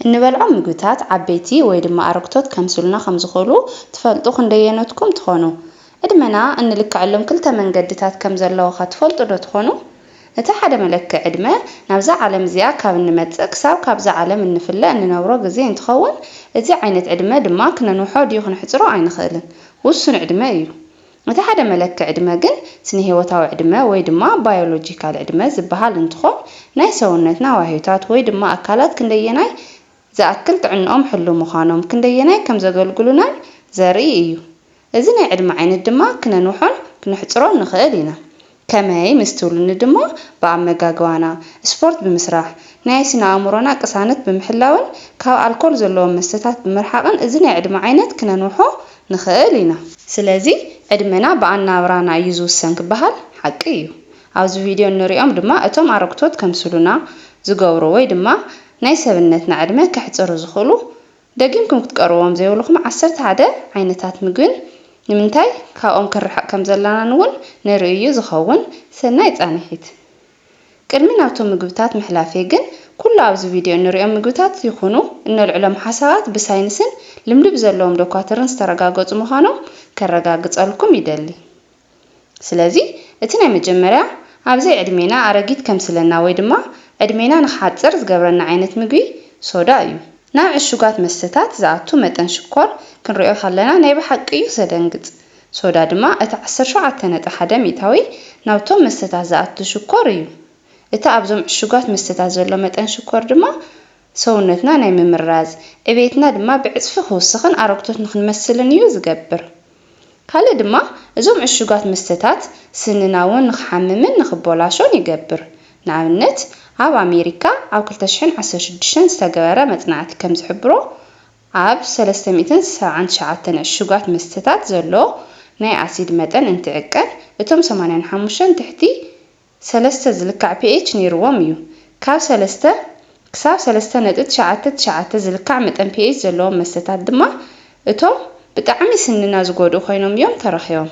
እንበልዖም ምግብታት ዓበይቲ ወይ ድማ ኣረግቶት ከምስሉና ከም ዝኽእሉ ትፈልጡ ክንደየኖትኩም ትኾኑ? ዕድመና እንልክዐሎም ክልተ መንገድታት ከም ዘለዉኸ ትፈልጡ ዶ ትኾኑ? እቲ ሓደ መለክዒ ዕድመ ናብዛ ዓለም እዚኣ ካብ እንመጽእ ክሳብ ካብዛ ዓለም እንፍለ እንነብሮ ግዜ እንትኸውን እዚ ዓይነት ዕድመ ድማ ክነንውሖ ድዩ ክነሕጽሮ ኣይንኽእልን። ውሱን ዕድመ እዩ። እቲ ሓደ መለኪ ዕድመ ግን ስነሂወታዊ ዕድመ ወይ ድማ ባዮሎጂካል ዕድመ ዝበሃል እንትኾን ናይ ሰውነትና ዋህዮታት ወይ ድማ ኣካላት ክንደየናይ ዝኣክል ጥዕንኦም ሕሉው ምዃኖም ክንደየናይ ከምዘገልግሉናን ዘርኢ እዩ። እዚ ናይ ዕድመ ዓይነት ድማ ክነንውሖን ክነሕፅሮን ንኽእል ኢና። ከመይ ምስ ትብሉኒ ድማ ብኣመጋግባና፣ ስፖርት ብምስራሕ፣ ናይ ስነ ኣእምሮና ቅሳነት ብምሕላውን ካብ ኣልኮል ዘለዎም መስተታት ብምርሓቕን እዚ ናይ ዕድመ ዓይነት ክነንውሖ ንኽእል ኢና። ስለዚ ዕድመና ብኣነባብራና እዩ ዝውሰን ክበሃል ሓቂ እዩ። ኣብዚ ቪድዮ እንሪኦም ድማ እቶም ኣረግቶት ከምስሉና ዝገብሩ ወይ ድማ ናይ ሰብነትና ዕድመ ከሕፅሩ ዝኽእሉ ደጊምኩም ክትቀርብዎም ዘይብልኩም ዓሰርተ ሓደ ዓይነታት ምግብን ንምንታይ ካብኦም ክንርሕቕ ከም ዘለናን እውን ንርኢ እዩ ዝኸውን። ሰናይ ጻንሒት። ቅድሚ ናብቶም ምግብታት ምሕላፈይ ግን ኩሉ ኣብዚ ቪድዮ እንርእዮም ምግብታት ይኹኑ እነልዕሎም ሓሳባት ብሳይንስን ልምዲ ብዘለዎም ዶኳትርን ዝተረጋገጹ ምዃኖም ከረጋግጸልኩም ይደሊ። ስለዚ እቲ ናይ መጀመርያ ኣብዘይ ዕድሜና ኣረጊት ከምስለና ወይ ድማ ዕድሜና ንክሓጽር ዝገብረና ዓይነት ምግቢ ሶዳ እዩ። ናብ ዕሹጋት መስተታት ዝኣቱ መጠን ሽኮር ክንሪኦ ከለና ናይ ብሓቂ እዩ ዘደንግጽ። ሶዳ ድማ እቲ ዓሰርተ ሸውዓተ ነጥቢ ሓደ ሚእታዊ ናብቶም መስተታት ዝኣቱ ሽኮር እዩ። እቲ ኣብዞም ዕሹጋት መስተታት ዘሎ መጠን ሽኮር ድማ፣ ሰውነትና ናይ ምምራዝ ዕቤትና ድማ ብዕጽፊ ክውስኽን ኣረግቶት ንኽንመስልን እዩ ዝገብር። ካልእ ድማ እዞም ዕሹጋት መስተታት ስንና እውን ንኽሓምምን ንኽቦላሾን ይገብር። ንኣብነት ኣብ ኣሜሪካ ኣብ ክልተ ሽሕን ዓሰርተ ሽዱሽተን ዝተገበረ መጽናዕቲ ከም ዝሕብሮ ኣብ ሰለስተ ሚእትን ሰብዓን ትሽዓተን ዕሹጋት መስተታት ዘሎ ናይ ኣሲድ መጠን እንትዕቀን እቶም ሰማንያን ሓሙሽተን ትሕቲ ሰለስተ ዝልካዕ ፒኤች ነይርዎም እዩ። ካብ ሰለስተ ክሳብ ሰለስተ ነጥቢ ትሽዓተ ትሽዓተ ዝልካዕ መጠን ፒኤች ዘለዎም መስተታት ድማ እቶም ብጣዕሚ ስንና ዝጎድኡ ኮይኖም እዮም ተረኺቦም።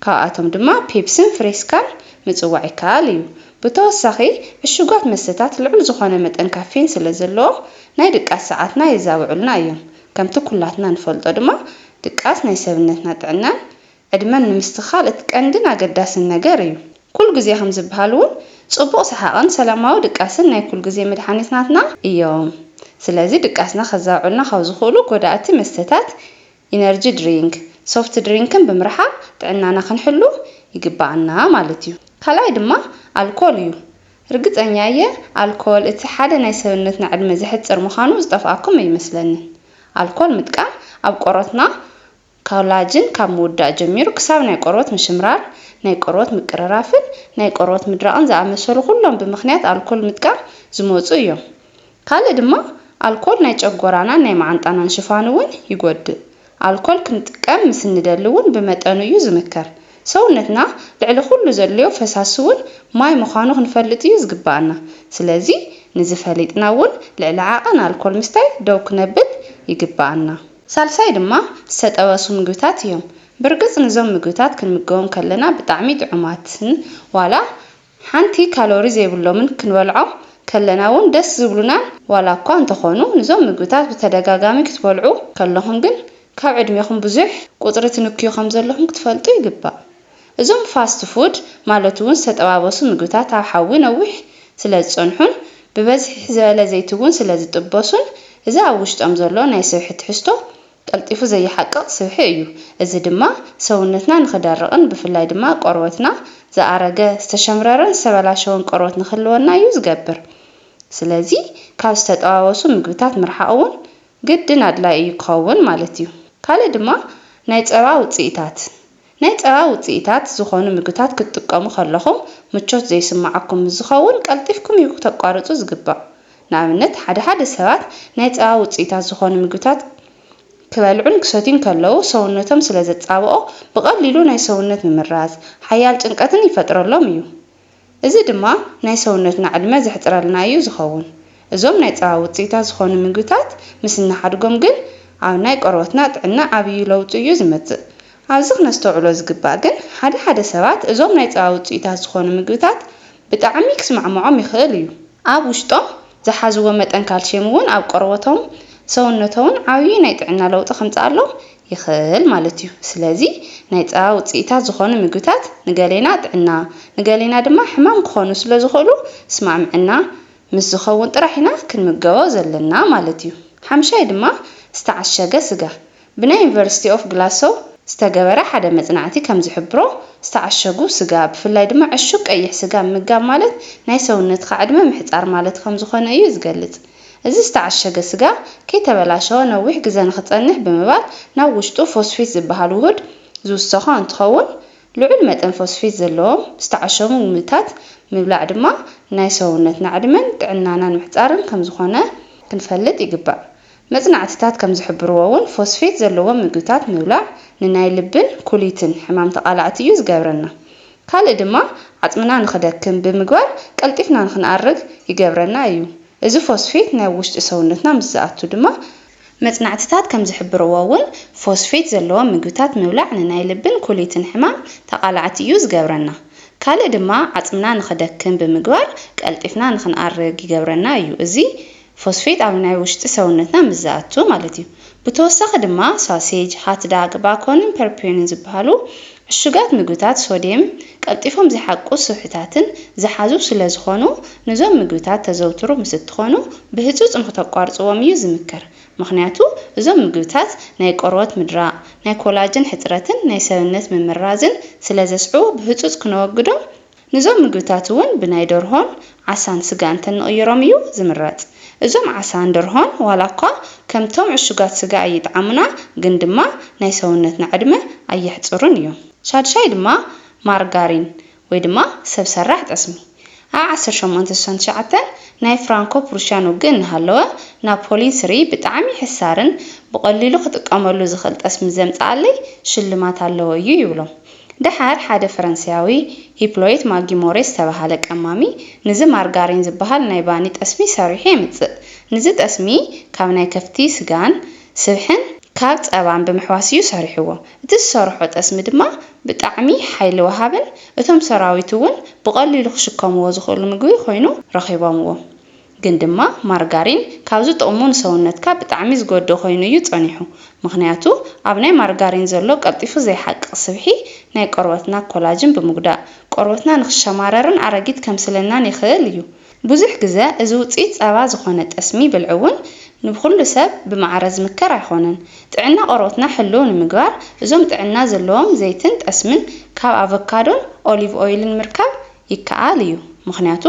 ካብኣቶም ድማ ፔፕስን ፍሬስካን ምፅዋዕ ይከኣል እዩ። ብተወሳኺ ዕሹጋት መስተታት ልዑል ዝኾነ መጠን ካፌን ስለዘለዎም ናይ ድቃስ ሰዓትና የዛብዑልና እዮም። ከምቲ ኩላትና ንፈልጦ ድማ ድቃስ ናይ ሰብነትና ጥዕናን ዕድመን ንምስትኻል እቲ ቀንድን ኣገዳስን ነገር እዩ። ኩሉ ግዜ ከም ዝበሃል እውን ፅቡቕ ሰሓቕን ሰላማዊ ድቃስን ናይ ኩሉ ግዜ መድሓኒትናትና እዮም። ስለዚ ድቃስና ከዛብዑልና ካብ ዝኽእሉ ጎዳእቲ መስተታት፣ ኢነርጂ ድሪንክ፣ ሶፍት ድሪንክን ብምርሓቕ ጥዕናና ክንሕሉ ይግበኣና ማለት እዩ። ካልኣይ ድማ ኣልኮል እዩ። ርግፀኛ እየ ኣልኮል እቲ ሓደ ናይ ሰብነትና ዕድመ ዘሕፅር ምዃኑ ዝጠፍኣኩም ኣይመስለንን። ኣልኮል ምጥቃም ኣብ ቆርበትና ካውላጅን ካብ ምውዳእ ጀሚሩ ክሳብ ናይ ቆርበት ምሽምራር፣ ናይ ቆርበት ምቅርራፍን ናይ ቆርበት ምድራቕን ዝኣመሰሉ ኩሎም ብምኽንያት ኣልኮል ምጥቃም ዝመጹ እዮም። ካልእ ድማ ኣልኮል ናይ ጨጎራናን ናይ መዓንጣናን ሽፋን እውን ይጎድእ። ኣልኮል ክንጥቀም ምስ እንደሊ እውን ብመጠኑ እዩ ዝምከር። ሰውነትና ልዕሊ ኩሉ ዘድልዮ ፈሳሲ እውን ማይ ምዃኑ ክንፈልጥ እዩ ዝግበኣና። ስለዚ ንዚ ፈሊጥና እውን ልዕሊ ዓቐን ኣልኮል ምስታይ ደው ክነብል ይግበኣና። ሳልሳይ ድማ ዝተጠበሱ ምግብታት እዮም። ብርግጽ ንዞም ምግብታት ክንምገቦም ከለና ብጣዕሚ ጥዑማትን ዋላ ሓንቲ ካሎሪ ዘይብሎምን ክንበልዖም ከለና ውን ደስ ዝብሉናን ዋላኳ እንተኾኑ ንዞም ምግብታት ብተደጋጋሚ ክትበልዑ ከለኹም ግን ካብ ዕድሜኹም ብዙሕ ቁጽሪ ትንክዩ ከምዘለኹም ክትፈልጡ ይግባእ። እዞም ፋስት ፉድ ማለት'ውን ዝተጠባበሱ ምግብታት ኣብ ሓዊ ነዊሕ ስለዝጸንሑን ብበዝሒ ዝበለ ዘይቲ'ውን ስለዝጥበሱን እዚ ኣብ ውሽጦም ዘሎ ናይ ስብሒ ትሕዝቶ ቀልጢፉ ዘይሓቅቕ ስብሒ እዩ። እዚ ድማ ሰውነትና ንኽደርቕን ብፍላይ ድማ ቆርበትና ዝኣረገ፣ ዝተሸምረረን ዝተበላሸወን ቆርበት ንኽህልወና እዩ ዝገብር። ስለዚ ካብ ዝተጠባበሱ ምግብታት ምርሓቕ'ውን ግድን ኣድላይ እዩ ክኸውን ማለት እዩ። ካልእ ድማ ናይ ጸባ ውጽኢታት። ናይ ጸባ ውጽኢታት ዝኾኑ ምግብታት ክትጥቀሙ ከለኹም ምቾት ዘይስምዓኩም ምስ ዝኸውን ቀልጢፍኩም እዩ ክተቋርጹ ዝግባእ። ንኣብነት ሓደ ሓደ ሰባት ናይ ጸባ ውጽኢታት ዝኾኑ ምግብታት ክበልዑን ክሰትዩን ከለዉ ሰውነቶም ስለ ዘጻብኦ ብቐሊሉ ናይ ሰውነት ምምራዝ፣ ሓያል ጭንቀትን ይፈጥረሎም እዩ። እዚ ድማ ናይ ሰውነትና ዕድመ ዘሕጽረልና እዩ ዝኸውን። እዞም ናይ ጸባ ውጽኢታት ዝኾኑ ምግብታት ምስ እንሓድጎም ግን ኣብ ናይ ቆርበትና ጥዕና ዓብዩ ለውጢ እዩ ዝመጽእ። ኣብዚ ክነስተውዕሎ ዝግባእ ግን ሓደ ሓደ ሰባት እዞም ናይ ጸባ ውጽኢታት ዝኾኑ ምግብታት ብጣዕሚ ክስማዕምዖም ይኽእል እዩ። ኣብ ውሽጦም ዝሓዝዎ መጠን ካልሽየም እውን ኣብ ቆርበቶምን ሰውነቶምን ዓብዪ ናይ ጥዕና ለውጢ ከምፅኣሎም ይኽእል ማለት እዩ። ስለዚ ናይ ፀባ ውፅኢታት ዝኾኑ ምግብታት ንገሌና ጥዕና ንገሌና ድማ ሕማም ክኾኑ ስለዝኽእሉ ስማዕምዕና ምስ ዝኸውን ጥራሕ ኢና ክንምገቦ ዘለና ማለት እዩ። ሓምሻይ ድማ ዝተዓሸገ ስጋ ብናይ ዩኒቨርሲቲ ኦፍ ግላሶው ዝተገበረ ሓደ መጽናዕቲ ከም ዝሕብሮ፣ ዝተዓሸጉ ስጋ፣ ብፍላይ ድማ ዕሹግ ቀይሕ ስጋ ምምጋብ ማለት ናይ ሰውነትካ ዕድመ ምሕጻር ማለት ከም ዝኾነ እዩ ዝገልጽ። እዚ ዝተዓሸገ ስጋ ከይተበላሸወ ነዊሕ ግዘ ንክጸንሕ ብምባል ናብ ውሽጡ ፎስፊት ዝበሃል ውሁድ ዝውሰኾ እንትኸውን ልዑል መጠን ፎስፊት ዘለዎም ዝተዓሸጉ ምግብታት ምብላዕ ድማ ናይ ሰውነትና ዕድመን ጥዕናናን ምሕጻርን ከም ዝኾነ ክንፈልጥ ይግባእ። መጽናዕትታት ከም ዝሕብርዎ እውን ፎስፌት ዘለዎም ምግብታት ምብላዕ ንናይ ልብን ኩሊትን ሕማም ተቓላዕቲ እዩ ዝገብረና። ካልእ ድማ ዓጽምና ንኽደክም ብምግባር ቀልጢፍና ንኽንኣርግ ይገብረና እዩ። እዚ ፎስፌት ናብ ውሽጢ ሰውነትና ምስ ዝኣቱ ድማ። መጽናዕትታት ከም ዝሕብርዎ እውን ፎስፌት ዘለዎም ምግብታት ምብላዕ ንናይ ልብን ኩሊትን ሕማም ተቓላዕቲ እዩ ዝገብረና። ካልእ ድማ ዓጽምና ንኽደክም ብምግባር ቀልጢፍና ንኽንኣርግ ይገብረና እዩ። እዚ። ፎስፌት ኣብ ናይ ውሽጢ ሰውነትና ምስ ዝኣቱ ማለት እዩ። ብተወሳኺ ድማ ሳሴጅ፣ ሃትዳግ፣ ባኮንን ፐርፒዮንን ዝበሃሉ ዕሹጋት ምግብታት ሶድየም ቀልጢፎም ዝሓቁ ስብሕታትን ዝሓዙ ስለ ዝኾኑ ንዞም ምግብታት ተዘውትሩ ምስ እትኾኑ ብህፁፅ ንክተቋርፅዎም እዩ ዝምከር። ምኽንያቱ እዞም ምግብታት ናይ ቆርበት ምድራቕ፣ ናይ ኮላጅን ሕፅረትን ናይ ሰብነት ምምራዝን ስለ ዘስዕቡ ብህፁፅ ክነወግዶም ንዞም ምግብታት እውን ብናይ ደርሆን ዓሳን ስጋ እንተንቕይሮም እዩ ዝምረፅ። እዞም ዓሳን ደርሆን ዋላ እኳ ከምቶም ዕሹጋት ስጋ ኣይጥዓሙና ግን ድማ ናይ ሰውነትና ዕድመ ኣየሕፅሩን እዮም። ሻድሻይ ድማ ማርጋሪን ወይ ድማ ሰብ ሰራሕ ጠስሚ። ኣብ ዓሰርተ ሸሞንተ ስሳን ትሽዓተን ናይ ፍራንኮ ፕሩሽያን ውግእ እናሃለወ ናፖሊን ስሪ ብጣዕሚ ሕሳርን ብቐሊሉ ክጥቀመሉ ዝኽእል ጠስሚ ዘምፀኣለይ ሽልማት ኣለዎ እዩ ይብሎም። ደሓር ሓደ ፈረንሳያዊ ሂፕሎይት ማጊሞሬ ዝተበሃለ ቀማሚ ንዚ ማርጋሪን ዝበሃል ናይ ባኒ ጠስሚ ሰሪሑ የምጽእ። ንዚ ጠስሚ ካብ ናይ ከፍቲ ስጋን ስብሕን ካብ ጸባን ብምሕዋስ እዩ ሰሪሕዎ። እቲ ዝሰርሖ ጠስሚ ድማ ብጣዕሚ ሓይሊ ወሃብን እቶም ሰራዊት'ውን ብቐሊሉ ክሽከምዎ ዝኽእሉ ምግቢ ኮይኑ ረኺቦምዎ። ግን ድማ ማርጋሪን ካብዚ ጥቕሙ ንሰውነትካ ብጣዕሚ ዝጎድእ ኮይኑ እዩ ጸኒሑ። ምኽንያቱ ኣብ ናይ ማርጋሪን ዘሎ ቀልጢፉ ዘይሓቅቕ ስብሒ ናይ ቆርበትና ኮላጅን ብምጉዳእ ቆርበትና ንክሸማረርን ኣረጊት ከምስለናን የኽእል እዩ። ብዙሕ ግዘ እዚ ውጽኢት ጸባ ዝኾነ ጠስሚ ብልዒ እውን ንብኹሉ ሰብ ብማዕረ ዝምከር ኣይኾነን። ጥዕና ቆርበትና ሕልው ንምግባር እዞም ጥዕና ዘለዎም ዘይትን ጠስምን ካብ ኣቨካዶን ኦሊቭ ኦይልን ምርካብ ይከኣል እዩ፣ ምኽንያቱ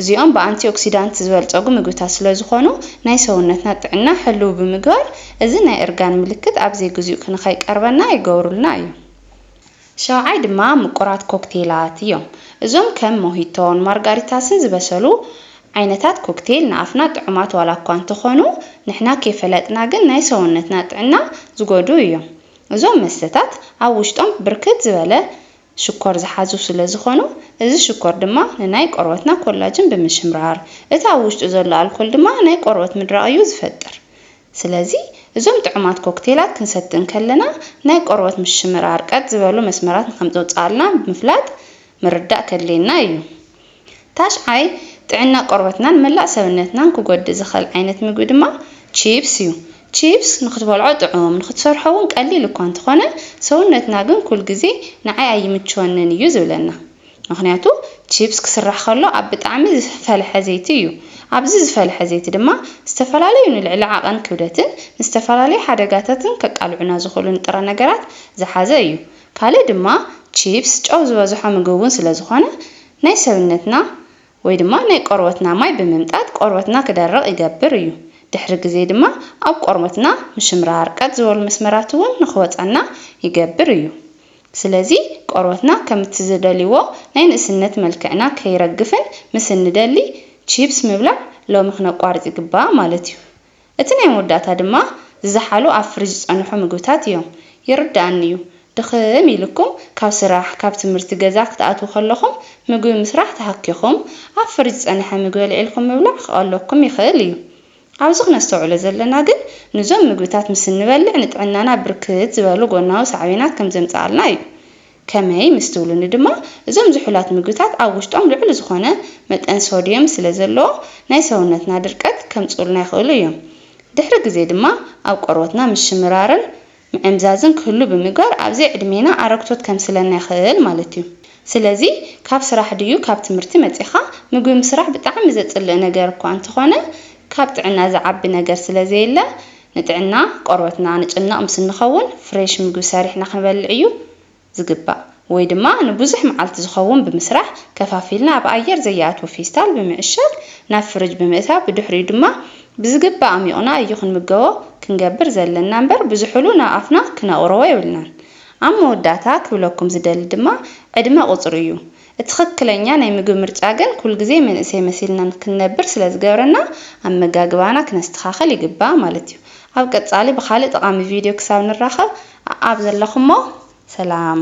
እዚኦም ብኣንቲኦክሲዳንት ዝበልፀጉ ምግብታት ስለዝኾኑ ናይ ሰውነትና ጥዕና ሕልው ብምግባር እዚ ናይ እርጋን ምልክት ኣብ ዘይግዚኡ ክንኸይቀርበና ይገብሩልና እዮም። ሻውዓይ ድማ ምቁራት ኮክቴላት እዮም፣ እዞም ከም ሞሂቶን ማርጋሪታስን ዝበሰሉ ዓይነታት ኮክቴል ንኣፍና ጥዑማት ዋላ እኳ እንተኾኑ ንሕና ከይፈለጥና ግን ናይ ሰውነትና ጥዕና ዝጎድኡ እዮም። እዞም መስተታት ኣብ ውሽጦም ብርክት ዝበለ ሽኮር ዝሓዙ ስለ ዝኾኑ፣ እዚ ሽኮር ድማ ንናይ ቆርበትና ኮላጅን ብምሽምራር፣ እቲ ኣብ ውሽጡ ዘሎ ኣልኮል ድማ ናይ ቆርበት ምድራቕ እዩ ዝፈጥር። ስለዚ እዞም ጥዑማት ኮክቴላት ክንሰቲ እንከለና ናይ ቆርበት ምሽምራር ቀጥ ዝበሉ መስመራት ንከምጽውጽኣልና ብምፍላጥ ምርዳእ ከድልየና እዩ። ታሽዓይ፣ ጥዕና ቆርበትናን መላእ ሰብነትናን ክጎድእ ዝኸእል ዓይነት ምግቢ ድማ ቺፕስ እዩ። ቺፕስ ንክትበልዖ ጥዑም፣ ንክትሰርሖ እውን ቀሊል እኳ እንተኾነ ሰውነትና ግን ኩል ግዜ ንዓይ ኣይምችወንን እዩ ዝብለና። ምክንያቱ ቺፕስ ክስራሕ ከሎ ኣብ ብጣዕሚ ዝፈልሐ ዘይቲ እዩ። ኣብዚ ዝፈልሐ ዘይቲ ድማ ዝተፈላለዩ ንልዕሊ ዓቐን ክብደትን ንዝተፈላለዩ ሓደጋታትን ከቃልዑና ዝኽእሉ ንጥረ ነገራት ዝሓዘ እዩ። ካልእ ድማ ቺፕስ ጨው ዝበዝሖ ምግቢ ውን ስለ ዝኾነ ናይ ሰብነትና ወይ ድማ ናይ ቆርበትና ማይ ብምምጣጥ ቆርበትና ክደርቕ ይገብር እዩ። ድሕሪ ግዜ ድማ ኣብ ቆርበትና ምሽምራር ቀጥ ዝበሉ መስመራት ውን ንክወጻና ይገብር እዩ። ስለዚ ቆርበትና ከምቲ ዝደልዎ ናይ ንእስነት መልክዕና ከይረግፍን ምስ እንደሊ ቺፕስ ምብላዕ ሎሚ ክነቋርጽ ይግባእ ማለት እዩ። እቲ ናይ መወዳእታ ድማ ዝዘሓሉ ኣብ ፍሪጅ ዝጸንሑ ምግብታት እዮም። ይርደኣኒ እዩ ድኽም ኢሉኩም ካብ ስራሕ ካብ ትምህርቲ ገዛ ክትኣትዉ ከለኹም ምግቢ ምስራሕ ተሃኪኹም ኣብ ፍሪጅ ዝጸነሐ ምግቢ ኣልዒልኩም ምብላዕ ክቐለኩም ይኽእል እዩ። ኣብዚ ክነስተውዕሎ ዘለና ግን ንዞም ምግብታት ምስ እንበልዕ ንጥዕናና ብርክት ዝበሉ ጎናዊ ሳዕቤናት ከምዘምጽኣልና እዩ። ከመይ ምስ ትብሉኒ ድማ፣ እዞም ዝሑላት ምግብታት ኣብ ውሽጦም ልዑል ዝኾነ መጠን ሶድየም ስለ ዘለዎ፣ ናይ ሰውነትና ድርቀት ከምጽኡልና ይኽእሉ እዮም። ድሕሪ ግዜ ድማ ኣብ ቆርበትና ምሽምራርን ምዕምዛዝን ክህሉ ብምግባር ኣብ ዘይዕድሜና ኣረግቶት ከምስለና ይኽእል ማለት እዩ። ስለዚ ካብ ስራሕ ድዩ ካብ ትምህርቲ መጺኻ ምግቢ ምስራሕ ብጣዕሚ ዘጽልእ ነገር እኳ እንተኾነ ካብ ጥዕና ዝዓቢ ነገር ስለ ዘየለ ንጥዕና ቆርበትና ንጭነቕ ምስ እንኸውን ፍሬሽ ምግቢ ሰሪሕና ክንበልዕ እዩ ዝግባእ ወይ ድማ ንብዙሕ መዓልቲ ዝኸውን ብምስራሕ ከፋፊልና ኣብ ኣየር ዘይኣትው ፌስታል ብምዕሻግ ናብ ፍርጅ ብምእታው ብድሕሪኡ ድማ ብዝግባእ ኣሚቑና እዩ ክንምገቦ ክንገብር ዘለና እምበር ብዝሑሉ ናብ ኣፍና ክነቕርቦ የብልናን ኣብ መወዳእታ ክብለኩም ዝደሊ ድማ ዕድመ ቁፅሪ እዩ እትኽክለኛ ናይ ምግቢ ምርጫ ግን ኩልግዜ መንእሰይ መሲልና ንክንነብር ስለ ዝገብረና ኣመጋግባና ክነስተኻኸል ይግባእ ማለት እዩ። ኣብ ቀጻሊ ብኻልእ ጠቓሚ ቪድዮ ክሳብ ንራኸብ ኣኣብ ዘለኹሞ ሰላም።